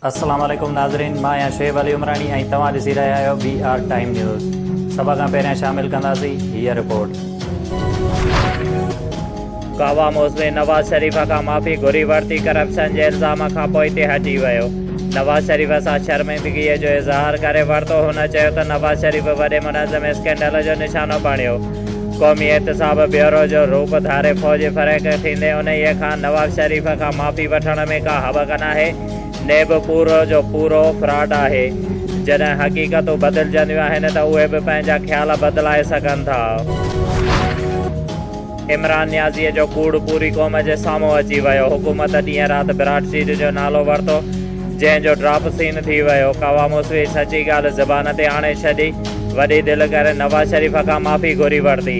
السلام عليڪم ناظرين مان آهيان شعيب علي عمراڻي ۽ توهان ڏسي رهيا آهيو بي آر ٽائيم نيوز سڀ کان پهريان شامل ڪنداسين هيء رپورٽ گوا موسمي نواز شريف کان معافي گهري ورتي ڪرپشن جي الزام کان پوء تي هٽي ويو نواز شريف سان شرمندگي جو اظهار ڪري ورتو هن چيو ته نواز شريف وڏي منظم اسڪينڊل جو نشانو بڻيو قومي احتساب بيورو جو روپ ڌاري فوج فريق ٿيندي انهيء کان نواز شريف کان معافي وٺڻ ۾ ڪا هٻڪ ناهي. نيب پورو جو پورو فراڊ آهي. جڏهن حقيقتون بدلجنديون آهن ته اهي به پنهنجا خيال بدلائي سگهن ٿا. عمران نيازيء جو ڪوڙ پوري قوم جي سامهون اچي ويو. حڪومت ڏينهن رات براڊ سيٽ جو نالو ورتو. جنهن جو ڊراپ سين ٿي ويو. ڪاوه موسويء سچي ڳالهه زبان تي آڻي ڇڏي. وڏي دل ڪري نواز شريف کان معافي گهري ورتي.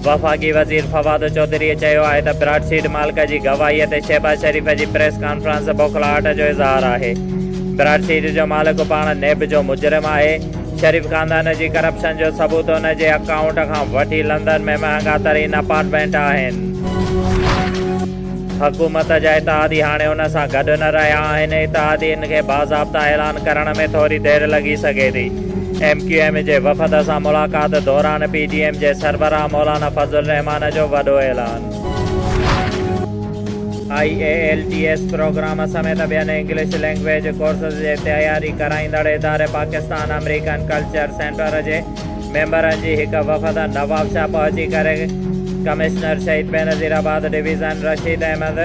وفاقي وزير فواد چوڌريء چيو آهي ته براڊ سيڊ مالڪ جي گواهيء تي شهباز شريف جي پريس ڪانفرنس بوکلاهٽ جو اظهار آهي. براڊ سيڊ جو مالڪ پاڻ نيب جو مجرم آهي. شريف خاندان جي ڪرپشن جو ثبوت ان جي اڪائونٽ کان وٺي لندن ۾ مهانگا ترين اپارٽمينٽ آهن. حڪومت جا اتحادي هاڻي ان سان گڏ نه رهيا آهن، اتحادين کي باضابطا اعلان ڪرڻ ۾ ٿوري دير لڳي سگهي ٿي. ايم ڪيو ايم جي وفد سان ملاقات دوران پي ڊي ايم جي سربراهه مولانا فضل الرحمان جو وڏو اعلان. I E L T S programme سميت ٻين انگلش لينگويج ڪورسز جي تياري ڪرائيندڙ اداري پاڪستان امريڪن ڪلچر سينٽر جي ميمبرن جي هڪ وفد نوابشاهه پهچي ڪري ڪمشنر شهيد بينظير آباد ڊويزن رشيد احمد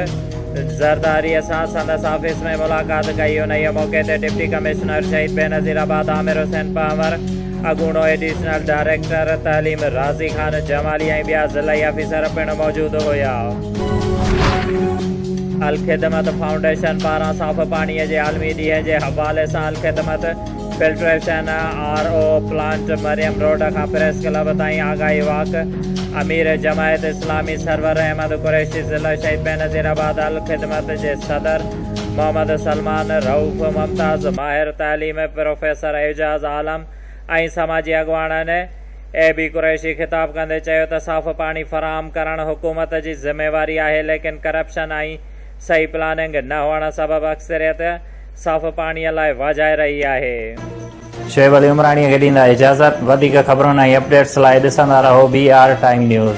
زرداري سان سندس آفيس ۾ ملاقات ڪئي. انهيء موقعي تي ڊپٽي ڪمشنر شهيد بينظير آباد عامر حسين پنهور، اڳوڻو ايڊيشنل ڊائريڪٽر تعليم رازي خان جمالي ۽ ٻيا ضلعي آفيسر پڻ موجود هيا. الخدمت فائونڊيشن پاران صاف پاڻي جي عالمي ڏينهن جي حوالي سان Alkhidmat, filtration R O plant Maryam road کان پريس ڪلب تائين آگاهي واڪ امير جماعت اسلامي سرور احمد قريشي ضلع شهيد بينظير آباد الخدمت جي صدر محمد سلمان رئوف ممتاز ماهر تعليم پروفيسر اعجاز عالم ۽ سماجي اڳواڻن اي بي قريشي خطاب ڪندي چيو ته صاف پاڻي فراهم ڪرڻ حڪومت جي ذميواري آهي ليڪن ڪرپشن ۽ صحيح پلاننگ نه هئڻ سبب اڪثريت صاف پاڻيء لاء واجهائي رهي آهي. شعيب علي عمراڻيء کي ڏيندا اجازت. وڌيڪ خبرن ۽ اپڊيٽس لاء ڏسندا رهو بي آر ٽائيم نيوز.